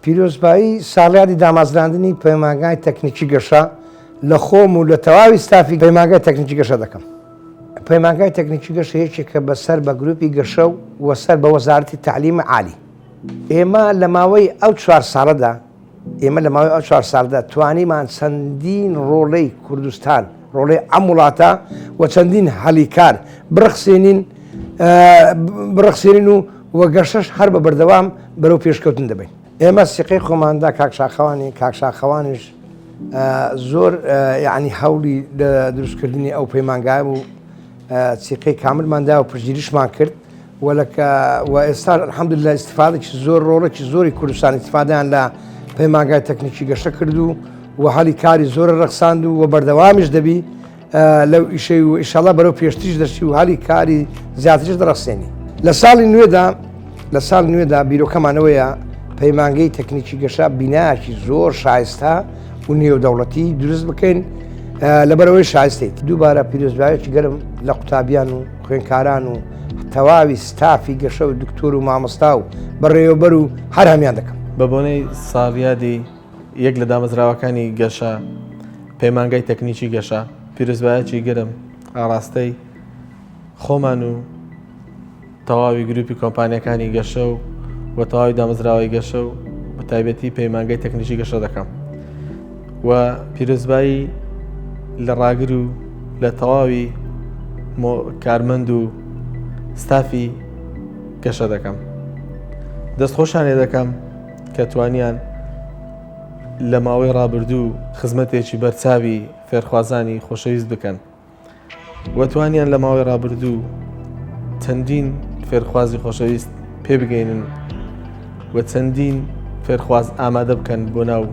پیرۆزبایی ساڵیادی دامازراندنی پەیمانگای تەکنیکی گەشە لە خۆم و لە تەواوی ستافی پەیمانگای تەکنیکی گەشە دەکەم پەیمانگای تەکنیکی گەشە یەکێکە بەسەر بە گروپی گەشە و وەسەر بە وەزارتی تعلیمە عالی ئێمە لە ماوەی ئەو چوار ساڵەدا ئێمە لە ماوەی ئەو چوار ساڵدا توانیمان چەندین ڕۆڵەی کوردستان ڕۆڵەی ئەم وڵاتە و چەندین هەلی کار بڕخسێنین بڕخسێنین و وە گەشتش هەر بە بەردەوام بەرەو پێشکەوتن دەبین ئێمە سیقەی خۆماندا کاکشاخەوانی کاکشاخەوانیش زۆر یعنی هەوڵی دروستکردنی ئەو پەیمانگای و سیقەی کاملماندا و پژگیریشمان کرد ولکە و ئێستا الحمدللە ئیستیفادەکی زۆر ڕۆڵێکی زۆری کوردستان ئیستیفادەیان لە پەیمانگای تەکنیکی گەشە کرد و و هەلی کاری زۆر ڕەخساند و و بەردەوامیش دەبی لەو ئیشەی و ئیشەڵە بەرەو پێشتیش دەشتی و هەلی کاری زیاتریش دەڕستێنی لە ساڵی نوێدا لە ساڵ نوێدا بیرۆکەمانەوەیە پەیمانگەی تەکنیکی گەشە بیناکی زۆر شایستە و نێودەوڵەتی دروست بکەین لەبەرەوەی شایستێت دووبارە پیرۆزبایەکی گەرم لە قوتابیان و خوێنکاران و تەواوی ستافی گەشە و دکتۆر و مامۆستا و بەڕێوەبەر و هەر هەمیان دەکەم بە بۆنەی ساڵیادی یەک لە دامەزراوەکانی گەشە پەیمانگای تەکنیکی گەشە پیرۆزبایەکی گرم ئاراستەی خۆمان و تەواوی گروپی کۆمپانیەکانی گەشە و وە تەواوی دامەزراوەی گەشە و بە تایبەتی پەیمانگای تەکنیکی گەشە دەکەم و پیرۆزبایی لە ڕاگر و لە تەواوی کارمەند و ستافی گەشە دەکەم دەست خۆشانێ دەکەم کە توانیان لە ماوەی ڕابردوو خزمەتێکی بەرچاوی فێرخوازانی خۆشەویست بکەن و توانیان لە ماوەی ڕابردوو چەندین فێرخوازی خۆشەویست پێبگەینن و چەندین فێرخواز ئامادە بکەن بۆ ناو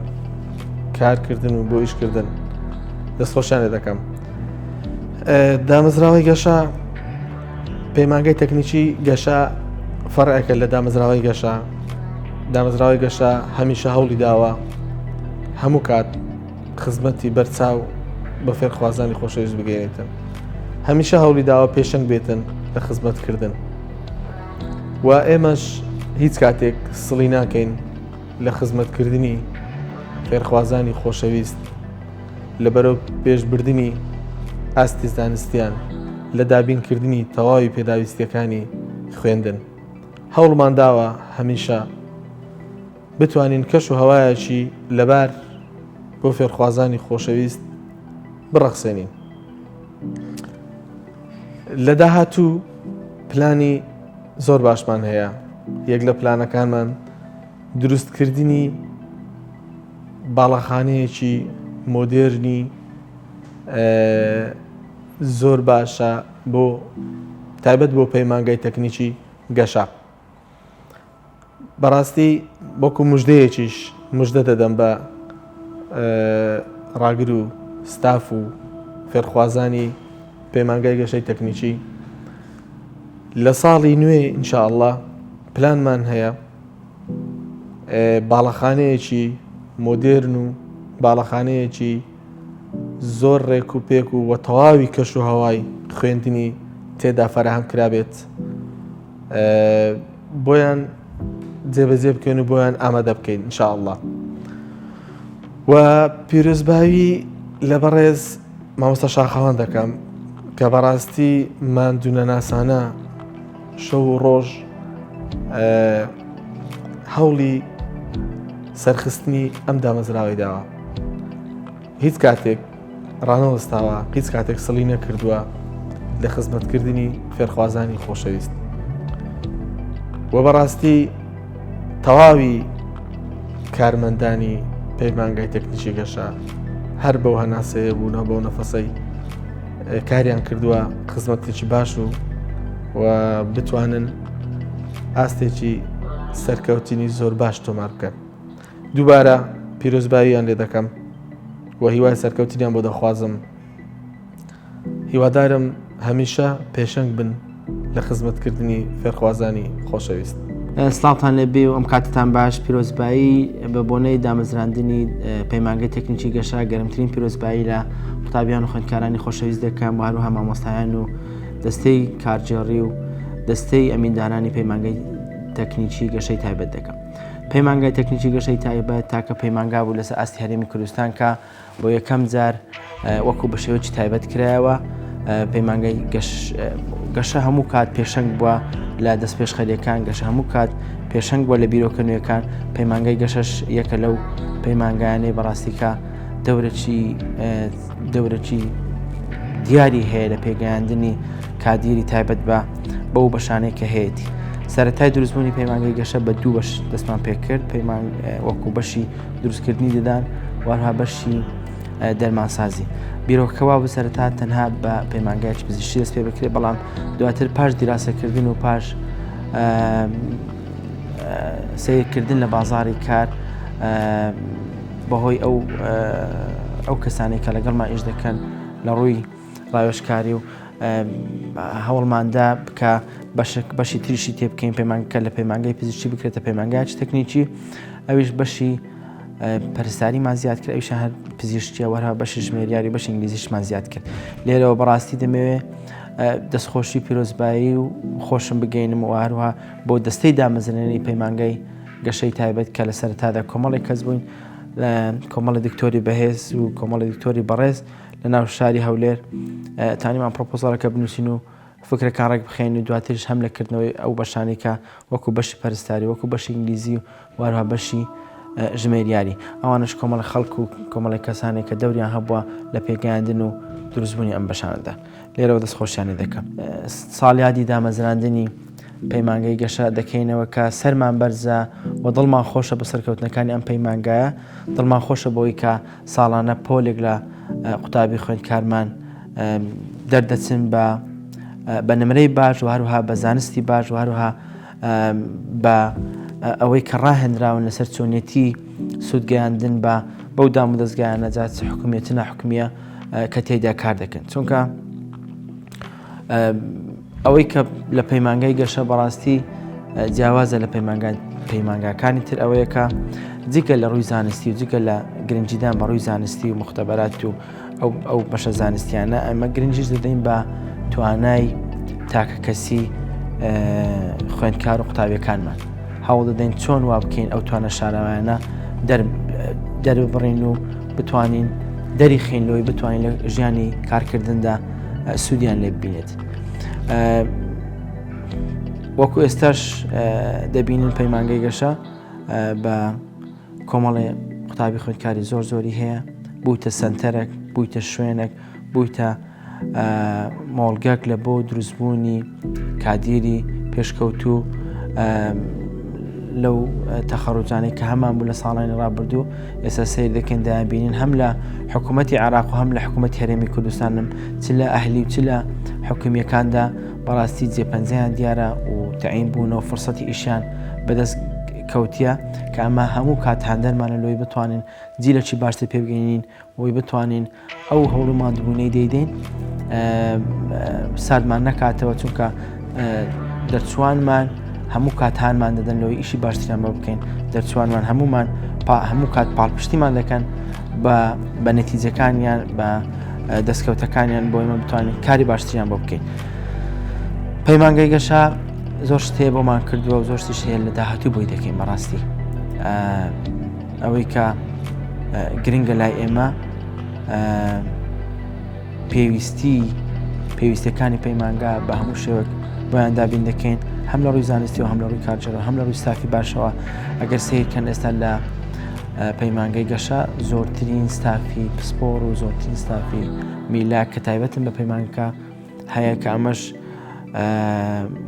کارکردن و بۆ ئیشکردن دەستخۆشیانێ دەکەم دامەزراوەی گەشە پەیمانگەی تەکنیکی گەشە فەرعەکە لە دامەزراوەی گەشە دامەزراوەی گەشە هەمیشە هەوڵی داوە هەموو کات خزمەتی بەرچاو بە فێرخوازانی خۆشەویست بگەێنێتن هەمیشە هەوڵی داوە پێشنگ بێتن لە خزمەتکردن و ئێمەش هیچ کاتێک سڵی ناکەین لە خزمەتکردنی فێرخوازانی خۆشەویست لە بەرەو پێشبردننی ئاستی زانستیان لە دابینکردنی تەواوی پێداویستیەکانی خوێندن هەوڵمان داوە هەمیشە بتوانین کەش و هەوایەکی لەبار بۆ فێرخوازانی خۆشەویست بڕەخسێنین. لە داهاتوو پلانی زۆر باشمان هەیە یەک لە پلانەکانمان دروستکردنی باڵەخانەیەکی مۆدێرنی زۆر باشە بۆ تایبەت بۆ پەیمانگای تەکنیکی گەشە. بەڕاستی وەکو مژدەیەکیش مژدە دەدەم بە ڕاگر و ستاف و فێرخوازانی پەیمانگای گەشەی تەکنیکی لە ساڵی نوێ ئینشاءله پلانمان هەیە باڵەخانەیەکی مۆدێرن و باڵەخانەیەکی زۆر ڕێک و پێک و وە تەواوی کەش و هەوای خوێندنی تێدا فەرهەم کرابێت بۆیان جێبەجێ بکەین و بۆیان ئامادە بکەین انشاءله و پیرۆزباوی لە بەڕێز مامۆستا شاخەوان دەکەم کە بەڕاستی مادونەناسانە شەو و ڕۆژ هەوڵی سەرخستنی ئەم دامەزراوەی داوە هیچ کاتێک ڕانەوەستاوە، هیچ کاتێک سڵی نەکردووە لە خزمەتکردنی فێرخوازانی خۆشەویست. و بەڕاستی تەواوی کارمەندانی پەیمانگای تەکنیکی گەشە هەر بەو هەناسەیە بوونە بەو نەفەسەی کاریان کردووە خزمەتێکی باش و و بتوانن ئاستێکی سەرکەوتنی زۆر باش تۆمار بکەن. دووبارە پیرۆزباییان لێ دەکەم و هیوای سەرکەوتنیان بۆ دەخوازم هیوادارم هەمیشە پێشنگ بن لە خزمەتکردنی فێرخوازانی خۆشەویست. سلااوان لێ بێ و ئەم کاتتان باش پیرۆزبایی بە بۆنەی دامەزراندنی پەیمانگە تەکنیکی گەشە گەرمترین پیرۆزبایی لە قوتابیان و خوێندکارانی خۆشەویست دەکەم و هەروها مامۆستایان و دەستەی کارجێڕی و دەستەی ئەمیندارانی پەیمانگەی تەکنیکی گەشەی تایبەت دەکەم. پەیمانگای تەکنیکی گەشەی تایبەت تاکە پەیمانگا بوو لەسەر ئاستی هەرێمی کوردستان کە بۆ یەکەم جار وەکو بە شێوەی تایبەت کرایەوە پەیمانگای گەشە هەموو کات پێشنگ بووە لە دەست پێشخەریەکان گەشە هەموو کات پێشنگ بووە لە بیرۆکە نوێەکان پەیمانگای گەشەش یەکە لەو پەیمانگانەی بەڕاستیکە دەورەی دەورەکی دیاری هەیە لە پێگەیاندنی کادیری تایبەت بە بەو بەشانەی کە هەیەی سەتای دروستبوونی پەیمانگەی گەشە بە دوو بەش دەستمان پێکرد پەیمان وەکو بەشی دروستکردنی دەدان وەها بەشی دەرمانسازی بیرۆکەوا بسەرتا تەنها بە پەیمانگایچ پزیشی دەست پێ بکرێت بەڵام دواتر پاش دیراسەکردن و پاش سیرکردن لە بازاری کار بەهۆی ئەو ئەو کەسانی کە لەگەڵمان ئیش دەکەن لە ڕووی ڕاوێشکاری و هەوڵماندا بکە بەشک بەشی تریشی تێ بکەین پەیمانگەکە لە پەیمانگەی پزیشتی بکرێتە پەیمانگاچ تەکنیکی ئەویش بەشی پەرستاریمان زیاد کرد ئەوش هەر پزیشتیە وەرە بەشی ژمێریاری بەش ئینگلیزیشمان زیاد کرد لێرەوە بەڕاستی دەمەوێت دەستخۆشی پیرۆزبایی و خۆشم بگەینم و هەروها بۆ دەستەی دامەزرێنی پەیمانگەی گەشەی تایبەت کە لە سەرەتادا کۆمەڵێک کەس بووین لە کۆمەڵی دکتۆری بەهێز و کۆمەڵی دکتۆری بەڕێز لە ناو شاری هەولێر تانیمان پرۆپۆزارەکە بنووسین و فکرەکان ڕێک بخێن و دواترش هەم لە کردنەوەی ئەو بەشانی کە وەکو بەشی پەرستاری وەکو بەشی ئینگلیزی و وارها بەشی ژمێریاری ئەوانش کۆمەڵە خەڵک و کۆمەڵی کەسانێک کە دەوریان هەبووە لە پێگەیاندن و دروستبوونی ئەم بەشانەدا لێرەوە دەست خۆشیان لێ دەکەم. ساڵیادی دامەزراندنی پەیمانگەی گەشە دەکەینەوە کە سەرمان بەرزە و دڵمان خۆشە بە سەرکەوتنەکانی ئەم پەیمانگایە دڵمان خۆشە بۆی کە ساڵانە پۆلێک لە قوتابی خوێندکارمان دەردەچن بە بە نمرەی باش و هەروها بە زانستی باش و هەروها بە ئەوەی کە ڕاهێنراون لەسەر چۆنێتی سوودگەیاندن بە بەو دامودەستگایانە جا چ حکومیە چ ناحکومیە کە تێدا کار دەکەن چونکە ئەوەی کە لە پەیمانگای گەشە بەڕاستی جیاوازە لە پەیمانگان پەیمانگاکانی تر ئەوەیەکە جگە لە ڕووی زانستی و جگە لە گرنجیدان بە ڕووی زانستی و مختبەرات و ئەو بەشە زانستیانە ئەمە گرنگیش دەدەین بە توانای تاکە کەسی خوێندکار و قوتابیەکانمان هەوڵ دەدەین چۆن وا بکەین ئەو توانە شاراوانە دەربڕین و بتوانین دەری خین لۆی بتوانین لە ژیانی کارکردندا سوودیان لێ ببینێت. وەکو ئێستاش دەبینن پەیمانگەی گەشە بە کۆمەڵێ قوتابی خوێندکاری زۆر زۆری هەیە بوویتە سەنتەرێک بوویتە شوێنێک بوویتە مۆڵگەک لە بۆ دروستبوونی کادیری پێشکەوتوو لەو تەخەڕوجانەی کە هەمان بوو لە ساڵانی ڕابردوو ئێستا سیر دەکەن دابینین هەم لە حکوومەتتی عراق و هەم لە حکوومەت هەرێمی کوردستانم چ لە ئەهلی و چ لە حکومیەکاندا بەڕاستی جێپەنجەیان دیارە و تعین بوون و فرسەتی ئیشیان بەدەست کەوتیە کە ئەمە هەموو کات هاندەرمانە لۆی بتوانین جیلەکی باشتر پێ بگەینین وی بتوانین ئەو هەوڵ و مادبوونەی دەیدەین سادمان نەکاتەوە چونکە دەرچوانمان هەموو کات هانمان دەدەن لەوەی ئیشی باشتران بە بکەین دەرچوانمان هەمومان هەموو کات پاڵپشتیمان دەکەن بە بە نەتیجەکانیان بە دەستکەوتەکانیان بۆ ئمە بتوانین کاری باشتریان بۆ بکەین پەیمانگەی گەشە زۆر شت هەیە بۆمان کردووە و زۆر شتیش هەیە لە داهاتوو بۆی دەکەین بەڕاستی ئەوەی کە گرنگە لای ئێمە پێویستی پێویستەکانی پەیمانگا بە هەموو شێوەک بۆیان دابین دەکەین هەم لە ڕووی زانستی و هەم لە ڕووی کارجەرە هەم لە ڕووی ستافی باشەوە ئەگەر سیرکەن ئێستا لە پەیمانگەی گەشە زۆرترین ستافی پسپۆر و زۆرترین ستافی میلا کە تایبەتن بە پەیمانگەکە هەیە کە ئەمەش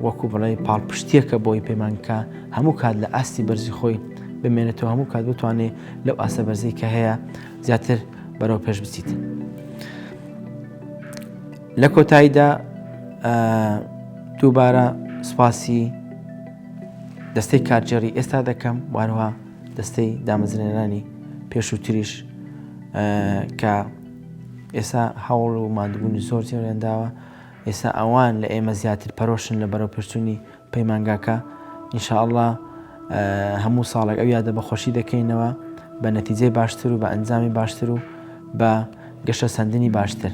وەکو بڵێ پاڵپشتیەکە بۆی پەیمانکە هەموو کات لە ئاستی بەرزی خۆی بمێنێتەوە هەموو کات بتوانێت لەو ئاسە بەرزی کە هەیە زیاتر بەرەو پێش بچیت. لە کۆتاییدا دووبارە سوپاسی دەستەی کارجێڕی ئێستا دەکەم وارها دەستەی دامەزرێنانی پێشووتریش کە ئێستا هەوڵ و ماندبوونی زۆر جێیان داوە، ئێستا ئەوان لە ئێمە زیاتر پەرۆشن لە بەرەوپێشچوونی پەیمانگاکە، ان شاء اللە هەموو ساڵێک ئەو یادە بەخۆشی دەکەینەوە بە نەتیجەی باشتر و بە ئەنجامی باشتر و بە گەشەسەندنی باشتر،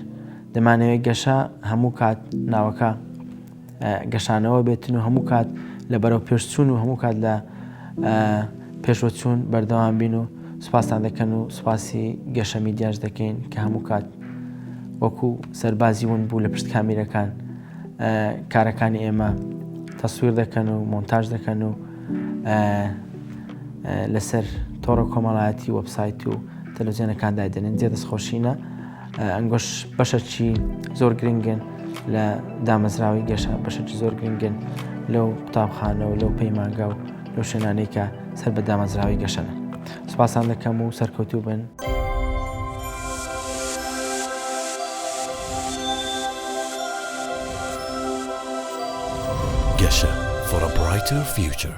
دەمانەوێت گەشە هەموو کات ناوەکە. گەشانەوە بێتن و هەموو کات لە بەرەو پێشچوون و هەموو کات لە پێشوەچوون بەردەوام بین و سوپاستان دەکەن و سوپاسی گەشە میدیاش دەکەین کە هەموو کات وەکو سەربازی ون بوو لە پشت کامیرەکان کارەکانی ئێمە تەسویر دەکەن و مۆنتاژ دەکەن و لەسەر تۆڕە کۆمەڵایەتی وەبسایت و تەلوزیێنەکان دایدەنێن جێ دەستخۆشینە ئەنگۆش بەشەکی زۆر گرنگن لە دامەزراوی گەشە بەشەکی زۆر گرنگن لەو قوتابخانەوە لەو پەیمانگا و لەو شوێنانەی کە سەر بە دامەزراوی گەشەن سوپاسان دەکەم و سەرکەوتوو بن. گەشە for a brighter future.